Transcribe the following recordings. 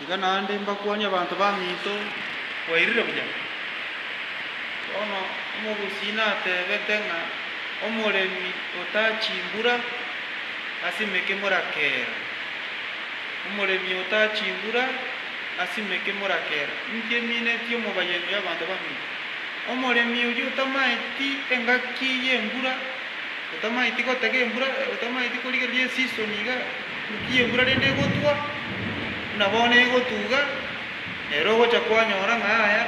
Iga naende mbakwanie abanto baminto, Mwairire buya? Bono omogusii natebete ng'a omoremi ota chimbura asimeke morakera, omoremi ota chimbura asimeke morakera, inki eminetie omobayani bw'abanto baminto? Omoremi oyio otamaeti engaki y'embura, otamaeti gotega embura, otamaeti korigereria esisoni iga. Inki embura rende egotwa, buna bono egotuga, nere ogocha kwanyora ng'a aya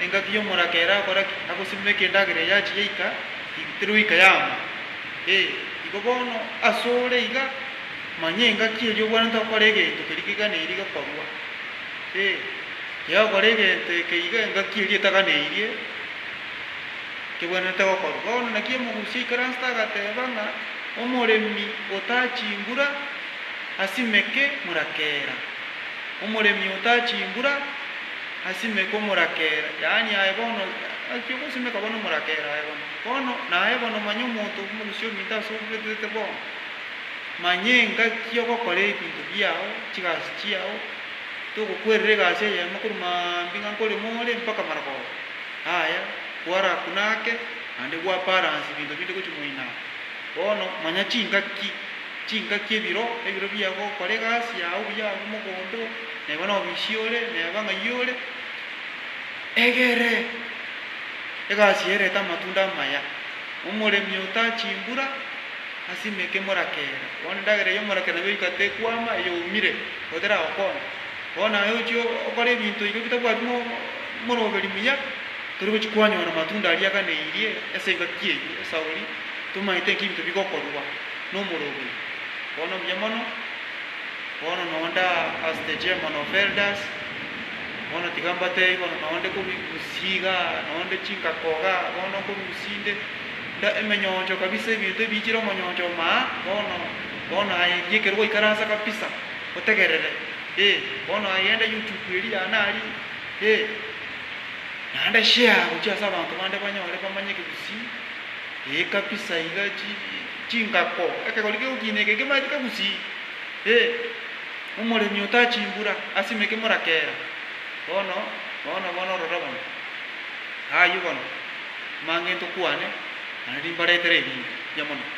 engaki y'omoraka ere akore ki? Agosimwa ekendagera eye achie yaika ibuterwe goika yama? Ee, igo bono ase ore iga, manya engaki eria obwanete gokora egento keria keganeirie gekorwa. Ee, yagokora egento eke iga engaki eria etaganeirie. Kebwenerete gokorwa. Bono naki omogusi oikire anse tagateba ng'a omoremi ota chimbura asimeke morakera. Omoremi ota chimbura asimeke omorakera, yaani aye bono naki ogosimeka bono omorakera aye bono. Bono naye bono manya omonto omogusi ominto ase obwetetete bono, manya engaki ogokora ebinto biao, chigasi chiao, togokwerera egasi eyemo korwa maambia ng'a nkorema ore mpaka maragoba. Aye kwarakuna ake, naende gwaparansa ebinto binde gochia moino aa. Bono manya chingaki, chingaki ebiro, ebiro biago gokora egasi yao buya agwo mogondo oo, neba nobisi ore, neba ng'ai ore. Egere egasi eye erete amatunda amaya. Omoremi otaa chimbura, asimeke emorakera. Bono endagera eyio y'omorakera nabwo egoika tekwama, eyoumire, goteragokona. Bono aye ochie okore ebinto iga bitabwati mo. Omoroberi muya, tori gochia kwanyora amatunda aria aganeirie ase engaki eyio, esauri, tomanyete inki ebinto bigokorwa nomoroberi. Bono buya mono, bono nonde as the chairman of elders, bono tiga mbatebie bono nonde kobigusia iga, nonde chingako iga, bono nkorusia inde, nda emenyoncho kabisa ebinto ebiichire omonyoncho omaa, bono, bono aye eria ekero gwaikaransa kabisa, otegerere, ee, bono aye genda youtube eria yane aria. Ee, naende share gochia ase abanto bande banyore bamanyeke gusii, ee kabisa iga chi, chingako, ekegori kegokiina eke kemaeteke gusii, ee, omoremi otaa chimbura, asimeke morakera, bono, bono, bono ororo bono, aywo bono, amang'ento kwane, naende rimbaretera erinde, yamoneka.